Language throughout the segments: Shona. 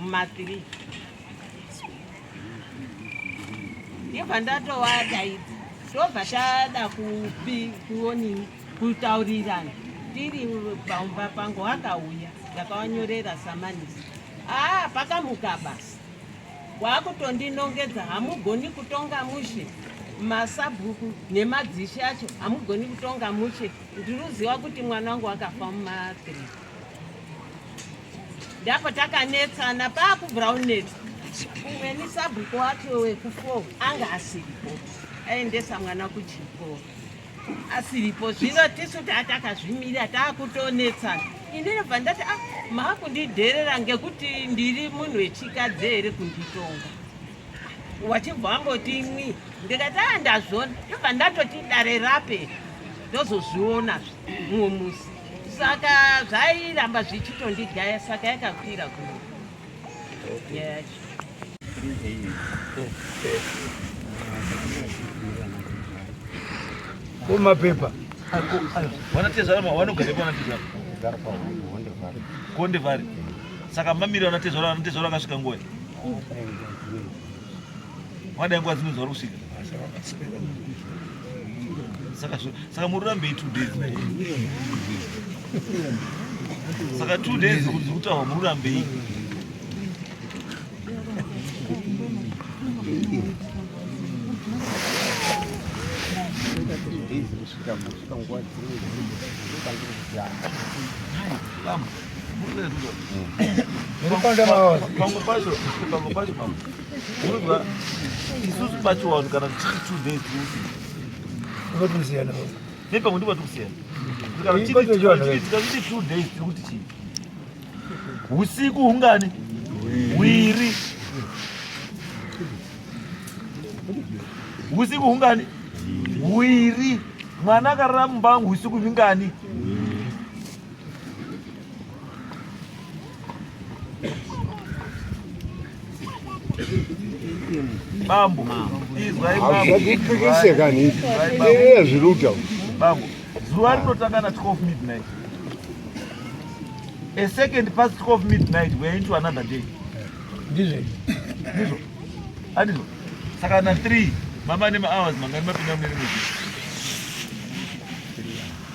mumathree ndibva ndatovadaidza ndobva tada kuonini kutaurirana tiri pamba pangu akauya ndakawanyorera samanisi aa ah, pakamuka basi wakutondinongedza hamugoni kutonga mushe masabhuku nemadzishi acho hamugoni kutonga mushe ndiri kuziva kuti mwana wangu akafa mumatriki ndapo takanetsana paakubrownnet umweni sabhuku wacho wekufo anga asiripo aendesa mwana kuchikoro asiripo zvino tisu taa takazvimirira taakutonetsana ini nobva ndati a ah, maakundidherera ngekuti ndiri munhu wechikadzi here kunditonga wachibva wamboti mwi ndikati a ah, ndazvona ndobva ndatoti dare rape ndozozvionazve mumwe musi saka zvairamba zvichitondigaya saka yakakwira kuno kumapepa vanatezvara vanogarepo vanatezvara konde vari saka mamiriro anatezvara anatezvara akasvika nguva Wadai nguva dzimwe zvauri kusvika. Saka saka muri rambe 2 days. Saka 2 days kuti kutawa muri rambe iyi. Vamos. pamwe pacho pamwe pacho pamwe unonzwa isusu pacho vanhu kana tichiri two days unotikusiyana ne pamwe ndiba tikusiyana tikazviti two days tiri kuti chii usiku hungani hwiri usiku hungani hwiri mwana akarara mumba wangu usiku vingani Bambo, izwai bambo. Hazvipikise kani. Eya zviri kutaura. Bambo, zuva rinotanga na 12 midnight. A second past 12 midnight we are into another day. Ndizvo. Ndizvo. Andizvo. Saka na 3 mama nema hours mangani mapinda mune rimwe.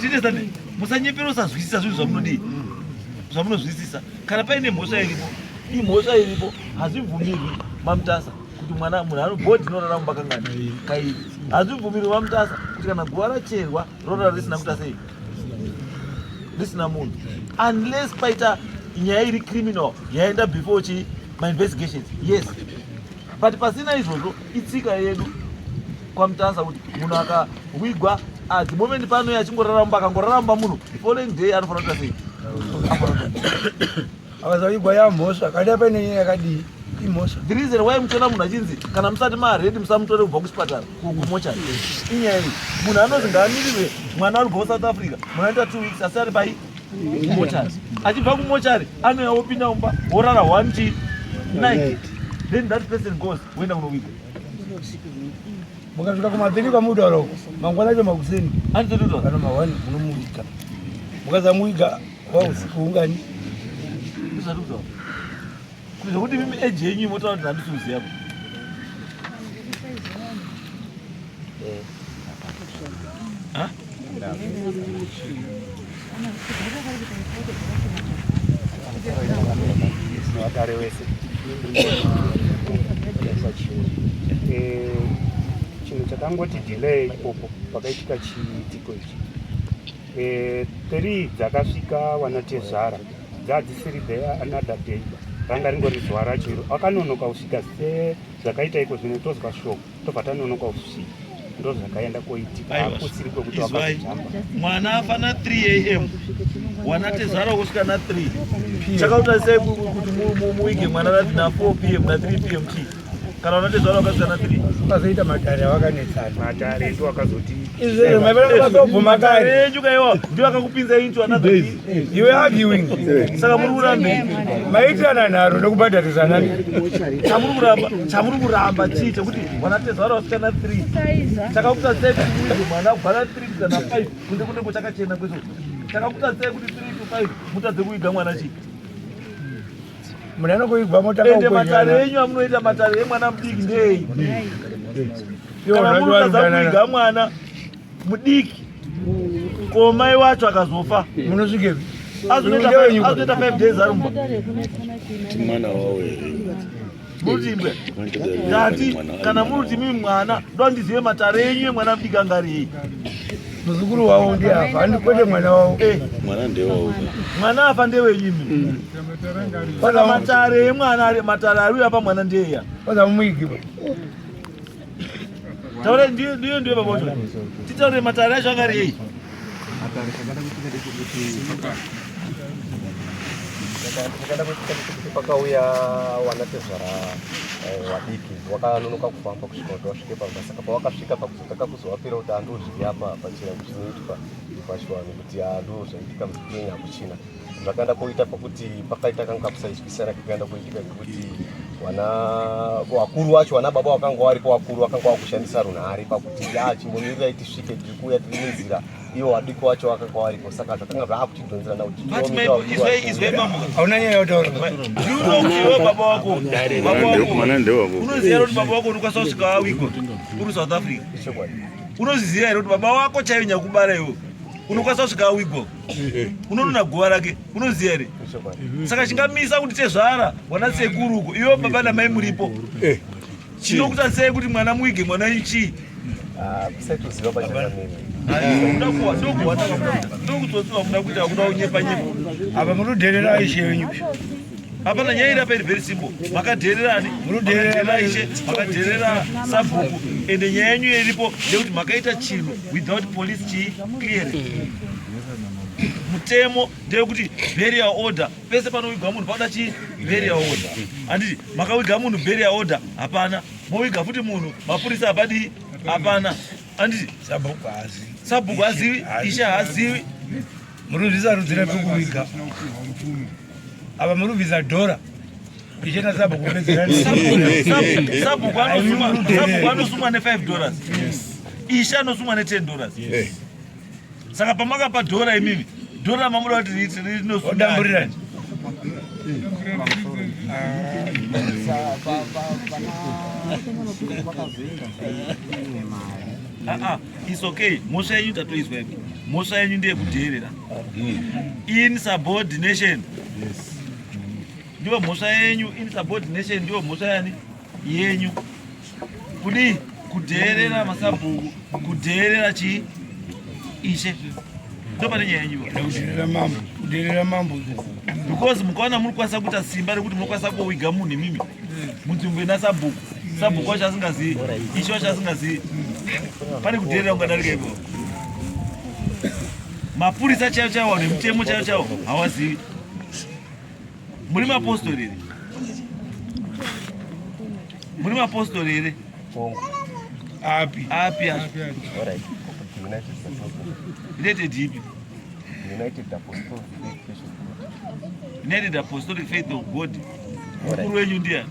tinezani musanyepera usazwisisa zvinhu zvamunodii zvamunozwisisa kana paine mhosva iripo imhosva iripo hazvibvumirwi mamutasa kuti mwana munhu anobhodhi inorara mumba kangani kairi hazvibvumirwi mamutasa kuti kana guva racherwa rorara risina kuita sei risina munhu unless paita nyaya iri criminal yaenda before chi mainvestigations yes but pasina izvozvo itsika yedu kwamutanza kuti munhu akawigwa at the moment pano ye achingoraramba akangoraramba munhu following day anofanira kuita sei akazawigwa yamhosva kati apaine nyaya yakadii imhosva the reason why muchiona munhu achinzi kana musati maaredi musamutore kubva kuchipatara kumochari inyaya iyi munhu anonzi ngaamirirwe mwana ari kubva kusouth africa munoita two weeks asi ari pai kumochari achibva kumochari anouya wopinda mumba worara one t night then that person goes woenda kunoviga mukasvika kumadheni kwamudaro mangwana acho makuseni anitototo kana mahwani munomuviga mukazamuviga wausiku ungani Zvekuti mimi age yenyu imotaura kuti handisi kuziva kuti. Eh. Huh? Agare wese chinhu chakangoti delay ipopo pakaitika chiitiko ichi Eh, three dzakasvika vanatezvara dzadzisiri there another day ranga ringori zuva racho iro akanonoka kusvika se zvakaita iko zvino tozwa shoko tobva tanonoka kusvika ndo zvakaenda koitika akusiri kwekuti wakazitamba mwana afana 3 am wanatezvara kusvika na 3 chakauta sei kuti muwige mwana rati na 4 pm na 3 pm tii kana unati zvaro wakazana tiri pazoita matare awakanetsana matare ndiwo akazoti izvero maivana vakazobvu matare enyu kaiwa ndiwo akakupinza inchu anadays you are arguing saka muri kuramba maitirana nharo nekubhadharisana chamuri kuramba chamuri kuramba chii chekuti wanati zvaro wasikana 3 chakakuta sei kuti muize mwana kubhana 3 kana 5 kunze kunenge chakachena kweso chakakuta sei kuti 3 to 5 mutadze kuiga mwana chii Mune anokuigwa mota kwa Ende matare enyu amunoita matare emwana mudiki ndei? Kana munotadza kuiga mwana mudiki ko mai wacho akazofa munosvike azoita 5 days ari mumba. Mwana wawo here? Murutimbwe ndati kana muruti mimi mwana ndoandizive matare enyu emwana mudika ngariyi muzukuru wavo ndi afa andi kwete mwana wavo eh. mwana afa ndewenyimi mm. saka matare emwana matare ari uyapa mwana ndeya paza mumuigiwa Taura ndiyo ndiyo ndiyo baba wacho. Titaure matare acho angari yei? Matare chakada kutika ndechekuti chakada kutika ndechekuti pakauya wana tezvara eh, wadiki wakanonoka kufamba kusvika kuti wasvike pamba saka pawakasvika pakuzotaka kuzovapira kuti andozviya apa pachira kuchinoitwa pachivanhu kuti andozvaitika muzikenya hakuchina zvakaenda koita pakuti pakaita kanga kakusaizwisana kakaenda koitika kekuti wana wakuru wacho wana baba wakanga waripo wakuru wakanga wakushandisa runhare pakuti ya chimbomirai tisvike tiri kuuya tiri nenzira iwo wadiko wacho wakanga waripo saka zvakanga zvaakutidhonzerana kuti hauna nyaya yotaura baba wako unoziva kuti baba wako unokwanisa kusvika wawiko uri south africa unoziziva here kuti baba wako chaive nyakubara iwo unokwanisa kusvika wawiko Eh. unonona guva rake unoziva here saka chingamisa kuti tezvara wana sekuru uko iwo baba namai muripo eh. chinokuta sei kuti mwana muige mwana ichii ah, ndokuzotsiva kuda kuita kuda kunyepa nyepa apa munoderera aishe yenyu hapana nyaya iri apa iri very simple makadhererani munodherera ishe makadherera sabhuku ende nyaya yenyu iripo ndekuti makaita chinhu without police chii clearing mutemo ndeyekuti beria order pese panowiga munhu pakuda chii beria order handiti makawiga munhu beria order hapana mowiga futi munhu mapurisa hapadii hapana handiti sabhuku hazivi ishe hazivi Murubvisa rudzira pekuviga apa murubvisa dhora ichena sabhuku pedzerasabhuku anosumwa ne5 dollars ishe anosumwa ne10 dollars saka pamakapa dhora imimi dhora mamuda kuti rinosudamburirani Ah, ah. It's okay. Mhosva yenyu tatoizwa yedu. Mhosva yenyu ndiye kudheerera. In subordination. Yes. Ndiyo mhosva yenyu in subordination ndiyo mhosva yani yenyu. Kudi kudheerera masabhuku, kudheerera chi ishe. Ndo pane nyaya yenyu. Kudheerera mambo, kudheerera mambo. Because mukaona muri kwasa kuita simba rekuti munokwanisa kuwiga munhu imimi. mudzungu ina sabhuku sabhuku wacho asingazivi ichi wacho asingazivi pane kuderera kungadarika ipo mapurisa chaivo chaivo vanhu vemutemo chaivo chaivo hawazivi muri mapostori here muri mapostori here api api api united ipi united apostolic faith of god Mkuru wenyu ndiye.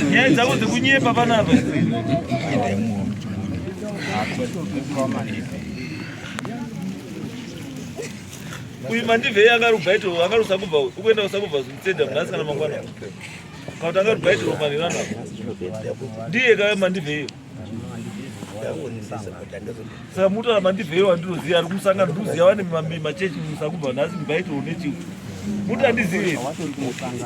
Nyaya dzavo dzekunyepa panapa. Uyu mandivhei akarubva ito akarusa kubva ukuenda kusa kubva zvimutsenda mnasi kana mangwana. Kautanga rubaiti ropa revana ndiye kave mandivheyo saka mutora mandivheyo wandinoziva ari kumusangano ndikuziva vane machechi musakubva nhasi mubaiti une chiu muti andizive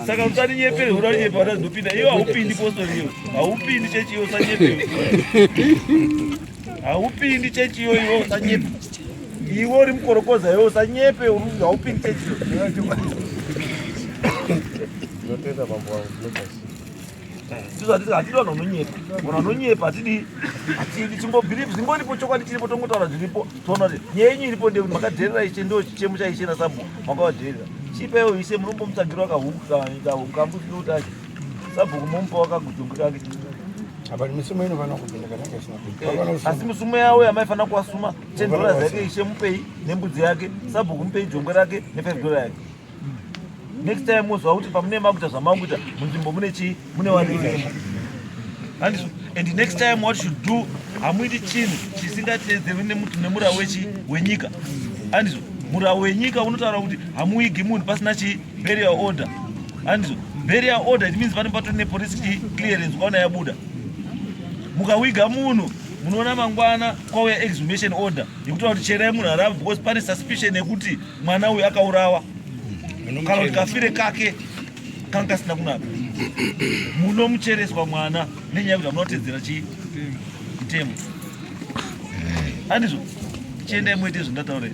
saka usaninyepere hura nyepe watazopinda iyo haupindi postori iyo haupindi chechi iyo usanyepe haupindi chechi iyo iwe usanyepe Iwe uri mukorokoza iwe usanyepe haupindi chechi. Ndotenda mambo wangu ndokasi. Ndizo hatisi hatidi vanhu vanonyepa. Vanhu vanonyepa hatidi hatidi chingobhiripi zingoripo chokwadi chiripo tongotaura zviripo toona kuti nyaya yenyu iripo ndekuti makadherera ishe ndo chichemo chaishe nasabu makavadherera. Chipaiwo ishe munombomutsvagira wakahuku kahuku kambusiro kuti ache sabhuku momupa wakagutungu kake apa misumo inofanira kupinda kana kaisina asi misumo yawo yamaifanira kuwasuma 10 dollars yake ishe mupei nembudzi yake sabhuku mupei jongwe rake ne5 dollar yake next time mozwa kuti pamune makuita zvamakuita munzvimbo mune chii mune wanei handizvo and next time what should do hamuiti chinhu chisingateedzerwi nemuti nemura wechi wenyika handizvo mura wenyika unotaura kuti hamuigi munhu pasina chi burial order handizvo burial order it means pane patori nepolice clearance kwaona yabuda mukawiga munhu munoona mangwana kwauya exhumation order yekutaura kuti cherai munhu arava because pane suspicion yekuti mwana uyu akaurawa kana kuti kafire kake kanga kasina kunaka munomuchereswa mwana nenyaya yekuti amunotedzera chii mutemo andizvo chiendai moite zvindataurei